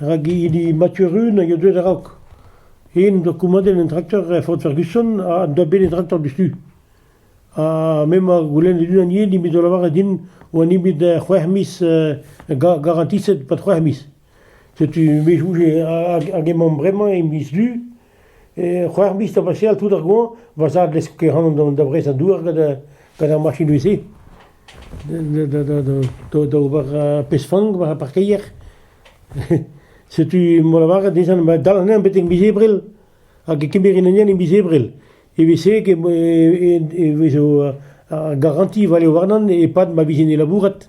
Ragilli Mathurin a ya deuet a-raok. Hen doa komadet an traktor Ford Ferguson ha en doa bet an traktor diouzhtu. Ha m'emañ goulennet unan yen eo bet o lavaret din oa nemet c'hwec'h miz garantiset, pas c'hwec'h miz. Setu me 'chouje hag emaomp bremañ e miz Du. c'hwec'h miz da baseal tout ar goañv, va zad lesk ehanon da brezañ dour gant ar machinoù-se, da ober pezh-fank war ar parkeier. Setu m'o lavaret dezhañ ma dal anezhañ betek miz Ebrel, hag e kemerin anezhañ e miz Ebrel. Evel-se e vezo ar garanti vale warnan e-pad ma vijen e labourat.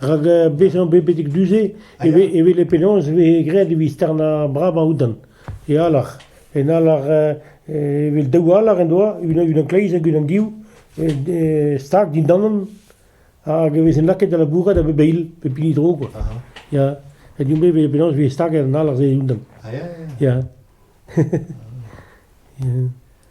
Rak bezañ bet betek du-se e vez e vez penaos e vez graet evit starnañ bravañ outan e alar. En alar evel daou alar en doa, unan kleiz hag unan div, stag dindanon hag e vez lakaet da labourat a bep eil, pep hini tro kwa. Ya, ha din-me e vez penaos e vez staget an alar-se e-unan. Ya. Ya.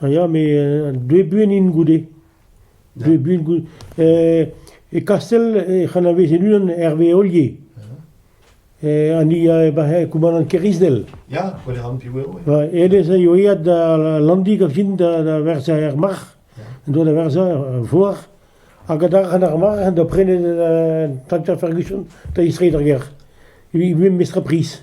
A ya me dve buan int goude, dve buan goude. E Kastell ec'h anavez e-unan Herve Ollier. An ni a koumanant Kerisdel. Ya, gwell ran piv eo. Hennezh a eo eat da Landig a fin da verzañ er marc'h, en doa da verzañ er vor, hag adarc'h an ar marc'h en doa prenet Tanta Ferguson da istreiñ d'ar gêr. Evit mestr priz.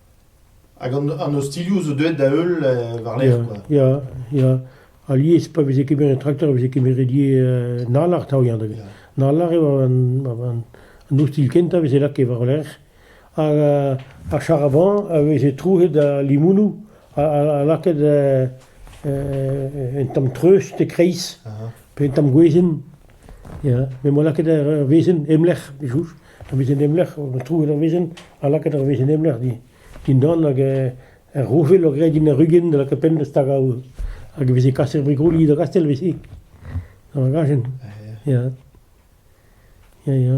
Hag an ostilhoù zo deuet da-heul war-lerc'h kwa. Ya, ya. Alies pa veze kemeret traktor e veze kemeret ivez nalar 'ta ya da get. Nalar eo an ostilh kentañ a veze lakaet war-lerc'h hag ar charavan a veze trouet a limounoù ha lakaet un tamm treust e-kreiz pe un tamm gwezenn ya. Me 'moa lakaet ur wezenn em lec'h, soñj. Ur wezenn emlec'h, troet ur wezenn ha lakaet ur wezenn emlec'h dindan hag er roñfel eo graet din ur rugenn da lakaat penn da stagañ aour. Hag e veze kaset brigolioù da Gastell ivez, gant ar gajenn. Ya, ya, ya.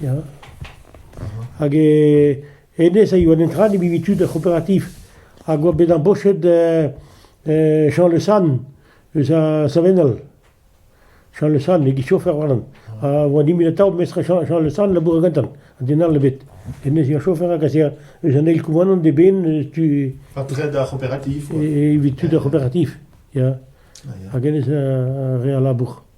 Ya, hag hennezh a yoa netra ne bivi tud er c'hooperativ hag oa bet embauchet Jean Le Sann eus ar Savenel, Jean Le Sann e gichofer warnan, a oa nemeti atav mestr Jean Le Sann labourat gantan, an den all ebet. Hennezh eo chofer hag ez ea eus an eil koumanant d'eben tu... Ha tred ar c'hooperativ, quoi. Evit tud ar c'hooperativ, ya. Hag hennezh a rea labour.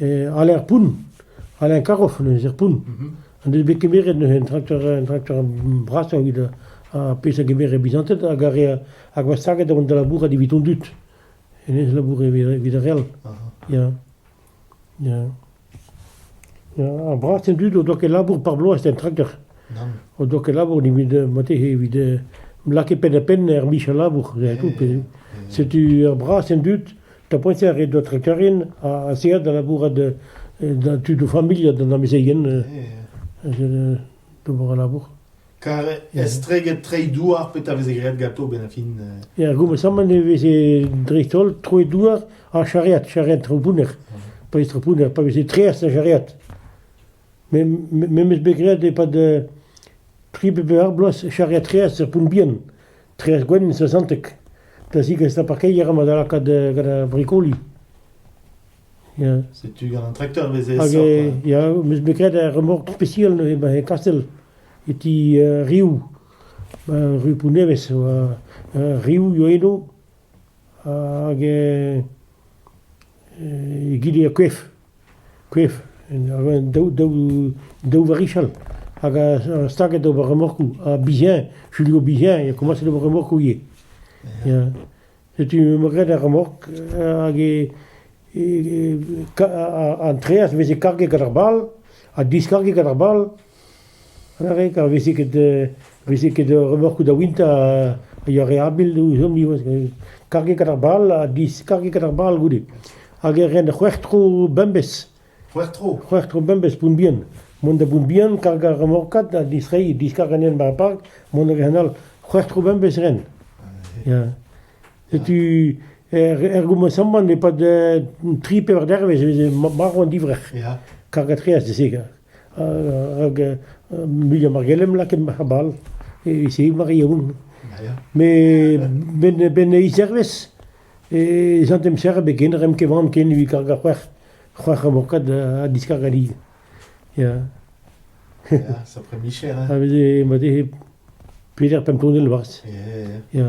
Alaer poun, alaer karof neuze, er poun. N'en deus bet kemeret neuze un trakteur, un trakteur brasañ evit ar pezh a gemere bizanted hag ar re hag oa staget da vont da labourat evit hon dud. Hennezh laboure evit ar re all. Ya. Ya. Ya, ar brasañ dud o doa ket labour par bloaz en trakteur. O doa ket labour evit mate evit lakaat penn-ha-penn er micher labour. Setu ur brasañ dud tapotier eo da trekerien a zeer da labourat da tudoù familh ha d'an amezeien d'ober al labour. Kar estreget treiñ douar petra veze graet ganto benn fin Ya, goumesamant e veze dreist-holl troet douar ha charreat, charreat trepounner. Pa vez trepounner, pa veze treas ha charreat. Me memes bet graet e-pad tri be ar bloaz charreat treas er poun bihan. Trec'h gwenn sesanteg da zigas da parkeier amañ da lakaat gant ar brikoli. Ya. Setu gant an trakteur e veze Hag aesoc'h. eh, ya, m'eus bet graet ar remork spesial neuze ba e Kastell, e ti eh, Riou, ba rue Pougnevez, oa eh, Riou eo eno, hag eh, eh, egile er koef. Kreñv, daou daou varichal hag a staga d'ober remorkoù. Ha biziañ, Julio Biziañ e komañse d'ober remorkoù ivez. Ya, setu emañ graet ar remork hag an treaz 'veze karget gant ar bal ha diskarget gant ar bal. Ar re kar veze ket veze ket remarkoù da wintañ a yoa re habil ouzhomp karget gant ar bal ha diskarget gant ar bal goude. Hag e ren c'hwec'h tro bemdez. C'hwec'h tro? C'hwec'h tro bemdez Pontbihan. Mont da Bontbihan kargañ remarkad ha distreiñ, diskaret anezhañ bar ar park, mont a ren all. C'hwec'h tro bemdez e ren. Ya. Setu er gomañsamant e-pad tri pevar dervezh e veze marv an divrec'h. Karget reas da se. hag muiañ mar gellem lakaat marc'h bal e-se mar yaoun. Met benn e-zervez ez an em serret bet ken remm ket van ken evit kargañ c'hwec'h c'hwec'h amokad ha diskargañ lid. Ya. Sapre micher, hein? Ha veze ma dezhe peder pemp tonell 'barzh. Ya. Ya.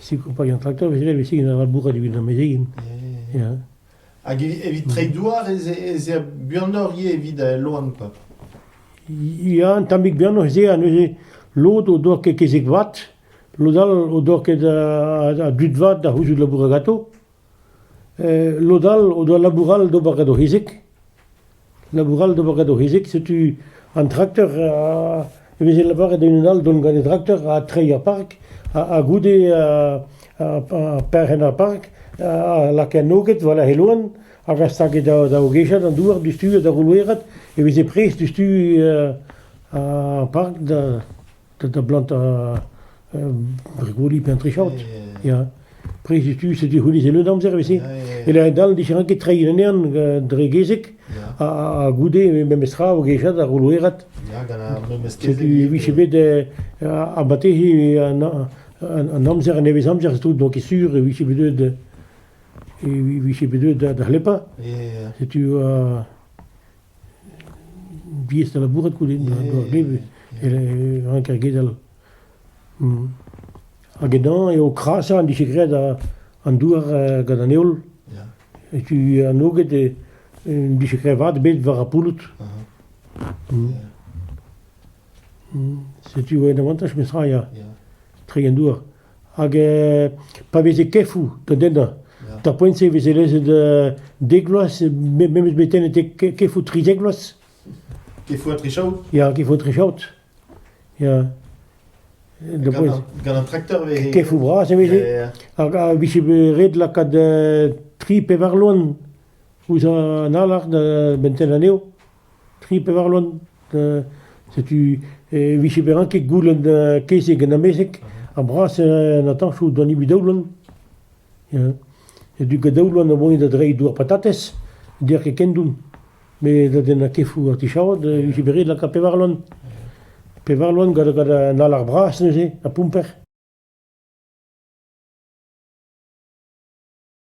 Sikour-paeañ traktor e sevel istig da labourat evit an mezegenn. Ya. Hag evit treiñ douar ez ez ea buanoc'h ivez evit al loen koa. Ya, un tammig buanoc'h ez ea. Neuze lod o doa ket kezeg vat, lod all o doa ket a dud vat da c'houzout labourat ganto. lod all o doa labour all d'ober gant o c'hizig. Labour all d'ober gant o c'hizig. Setu an trakteur e veze lavaret da unan all dont gant e trakteur ha treiñ ar park. Ha goude perc'henn ar park ha lakaat noget war he loen hag a stage da ogechat an douar diouzhtu ha da voloerat e veze prest diouzhtu ar park da... da blantañ bregoli pe un trichaod. Ya. Prez tu, c'est du honnezh en amzer avait si. Et là, dal, différent que treiñ un ern dre gezek, ha goude memes tra o gejat ar rouerat. C'est du, vije bet a batehe an amzer, an nevez amzer, c'est tout, donc c'est sûr, e vije bet deuet e vije bet deuet da c'hlepa. Setu diaes da labourat goude, a doare rank ar gedal. Hag ennañ eo krasañ an dije graet an douar gant an heol. Setu an oged en dije graet vat bet war ar pouloud. Setu un avantaj memestra, ya. Treiñ an douar. hag pa veze kefoù da dennañ. D'ar poent-se e veze lezet dek vloaz, memes betek kefoù trizek vloaz. Kefoù ha trichaout Ya, kefoù ha trichaout. Ya. Gant un tracteur vez... Kefoù bras e veze. Hag a vije ret lakaat tri pevar loen ouzh an alar da bentel anezho. tri pevar loen. Setu e vije bezañ ket goulenn kezeg en amezeg, ar brasañ atañsoù doa nebeut daou loen. Setu daou loen a voe da dreiñ dour patatez, n'der ket ken don. Met da dennañ kefoù ar tichaod e vije bet ret lakaat pevar loen. Pevar loen gant an alar bras neuze, ha poumper.